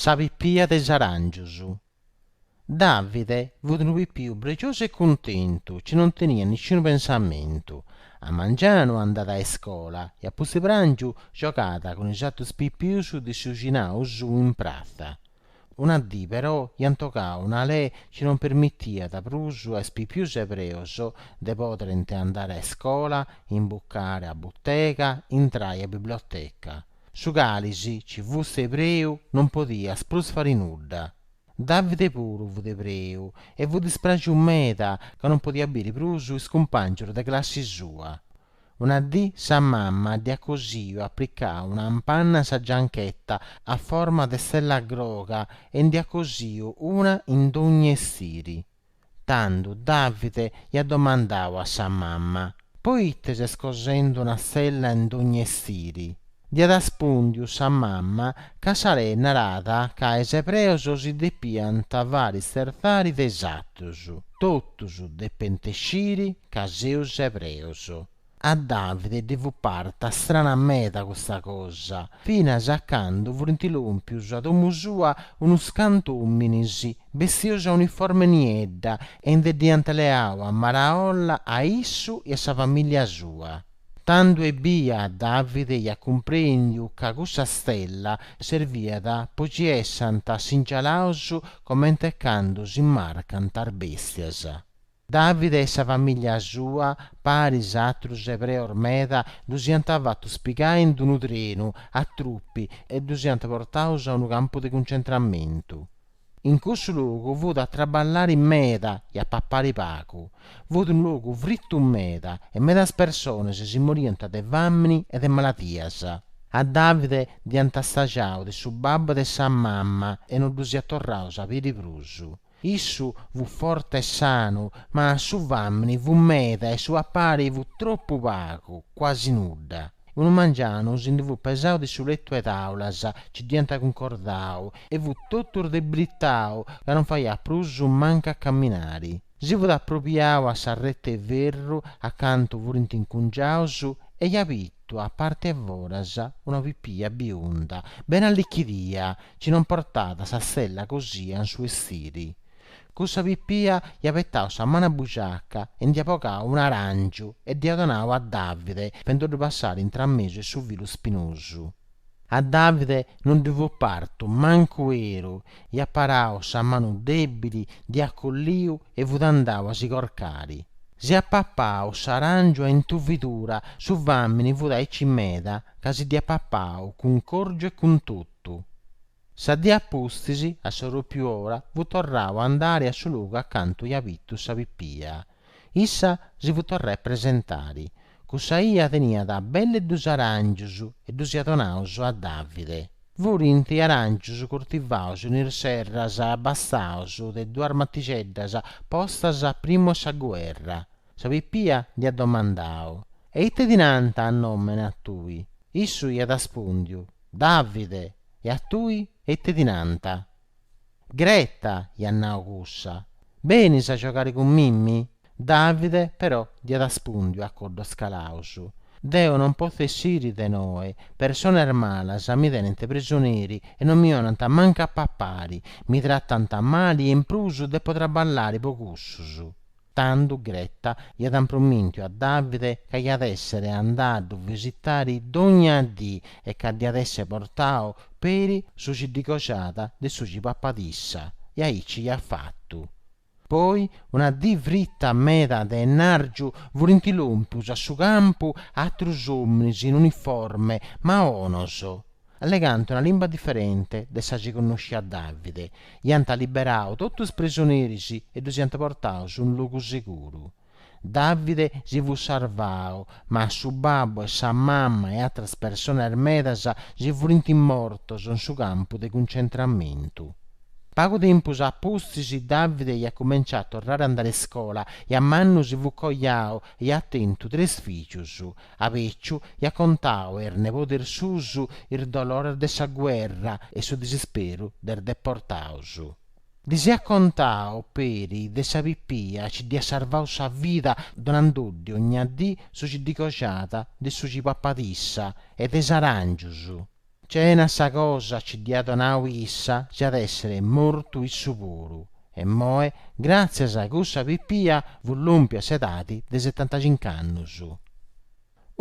Sa pipia de is aràngius. Davide fut unu pipiu pregiosu e cuntentu, ci non teniat nisciunu pensamentu. A mangianu andat a iscola e a pustiprangiu giogat cun is atrus pipius de is bixinaus in pratza. Una dì, però, iant bogau una lei ci non permitiat prus a is pipius ebreus de poderent andari a iscola, imbucare a butega, intrai a biblioteca. Su calis, ci fust ebreu, non podiast prus fari nudda. Davide puru fut ebreu e fut dispraxiu meda ca non podiat biri prus is cumpàngius de classi sua. Una dì sa mamma dd'hiat cosiu aplicau una ampanna a sa gianchetta a forma de stella groga e nd'hiat cosiu una in dogni estiri. Tandhu Davide hiat domandau a sa mamma, Poite ses cosendhu una stella in dogni estiri? Dd'hiat arrespùndiu sa mamma ca sa lei narat ca is ebreus si depiant fari stertzari de is atrus, totus depent sciri ca seus ebreus. A Davide ddi fut parta strana meda custa cosa, finas a candu furint lòmpius a domu sua unus cantu òminis bestius a uniforme niedda e nde dd'iant leau a maraolla a issu e a sa famìllia sua. Tandu ebbia Davide iat cumprendiu ca cussa stella serviat po ci essant singialaus comente candu si marcant is bestias. Davide e sa famìllia sua, paris atrus ebreus meda, ddus iant fatus pigai in d'unu trenu a trupi e ddus iant portaus a unu campu de cuncentramentu. In cussu logu fut a traballari meda e a papari pagu. Fut unu logu fritu meda e medas personas si moriant de fàmini e de maladias. A Davide dd'iant stagiau de su babbu e de sa mama e no ddus iat torrau a biri prus. Issu fut forte e sanu, ma su famini fut meda e su papari fut tropu pagu, cuasi nudda. Unu mangianu si ndi fut pesau de su letu 'e tàulas, ci dd'iant cuncordau, e fut totu rdebritau ca non faiat prus mancu a caminari. Si fut apropiau a s'arreta 'e ferru acantu furint incungiaus e iat bitu a parte 'e foras una pipia biunda bene allichidia ci non portat sa stella cosia in su estiri. Cussa pipia iat betau sa manu a bujaca e nd'iat bogau un'arangiu e dd'iat donau a Davide, fendoddu passare intramesu 'e su filu spinosu. A Davide non ddi fut partu mancu 'eru, iat parau sa manu dèbili, dd'iat colliu e fut andau a si corcari. S'iat papau s'aràngiu a intuvidura, su fàmini fut aici meda ca si dd'iat papau cun corgiu e cun totu. Sa dì a pustis, a sa pròpiu ora, fut torrau a andari a su logu acantu iat bitu sa pipia. Issa si fut torrada a presentari. Cussa 'ia teniat belle dus aràngius e ddus iat donaus a Davide. Furint aràngius curtivaus in is serras abastaus de duas matixeddas postas a primu 'e sa guerra. Sa pipia dd'iat domandau, E ite ti nant a nòmene a tui? Issu iat aspùndiu, Davide! E a tui, e ite ti nant? Greta, iat nau cussa, benis a giogare cun mimi? Davide, però, dd'iat aspùndiu a coddos calaus, Deo non potzu essiri de noe, personas malas mi tenent prisoneri e non mi 'onant mancu a papare, mi tratant mali e in prus depo traballare po cussus. Tando Gretta iat ampromìntiu a Davide ca iat èssere andada a ddu visitare dògnia dì e ca dd'iat èssere portau peri su ci ddi coxat de su ci papat issa, e aici iat fatu. Poi una dì frita meda de ennàrgiu furint lòmpius a su campu atrus òminis in uniforme, ma 'onos, allegant una limba diferente de sa ci connosciat Davide, iant liberadu totu is prisoneris e ddus iant portaus in logu seguru. Davide si fut sarvau, ma su babbu e sa mama e atras personas medas si furint mortus in su campu de cuncentramentu. Pagu tempus a pustis Davide iat cumenciau a torrare a andare a iscola e a mannu si fut coiau e iat tentu tres fìgius, A beciu iat contau a is nebodes suus is dolores de sa guerra e su disisperu de is deportaus. Ddis iat contau peri de sa pipia ci dd'iat sarvau sa vida donandoddi ogna dì su ci ddi coxat de su ci papat issa e de is aràngius. Cena sa cosa ci dd'iat donau issa s'iat èssere mortu issu puru, e moe, gràtzias a cussa pipia, fut lompiu a s'edadi de setantacinc'annus.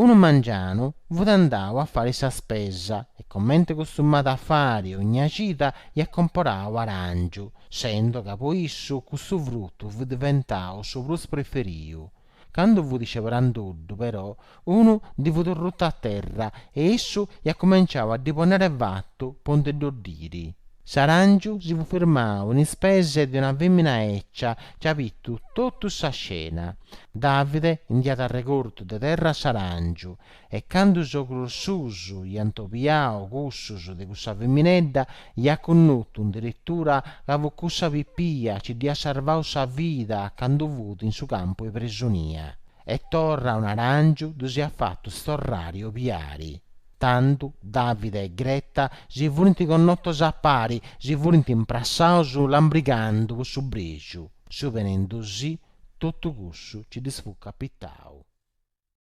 Unu mangianu fut andau a fari sa spesa e, comente costumat a fari ogna cida, iat comporau aràngiu, sendo ca po issu custu frutu fut diventau su prus preferiu, Candu fut sceberandoddu, però, unu ddi fut ruttu a terra e issu iat cumenciau a ddi ponnere fatu po nde dd'oddiri. S'aràngiu si fut firmau in is peses de una fèmina 'ecia ci iat bitu totu sa scena. Davide ndi iat arregortu de terra s'aràngiu, E candu is ogros suos iant obiau cussus de cussa feminedda, iat connotu indirittura ca fut cussa pipia nci dd'iat sarvau sa vida candu fut in su campu 'e presonia. E torra un aràngiu ddus iat fatus torrari obiari. Tando Davida e Gretta si furint connotos a pari, si furint imprassaus lambrigando po su brexiu. Suponendosì totu cussu nci ddis fut capitau.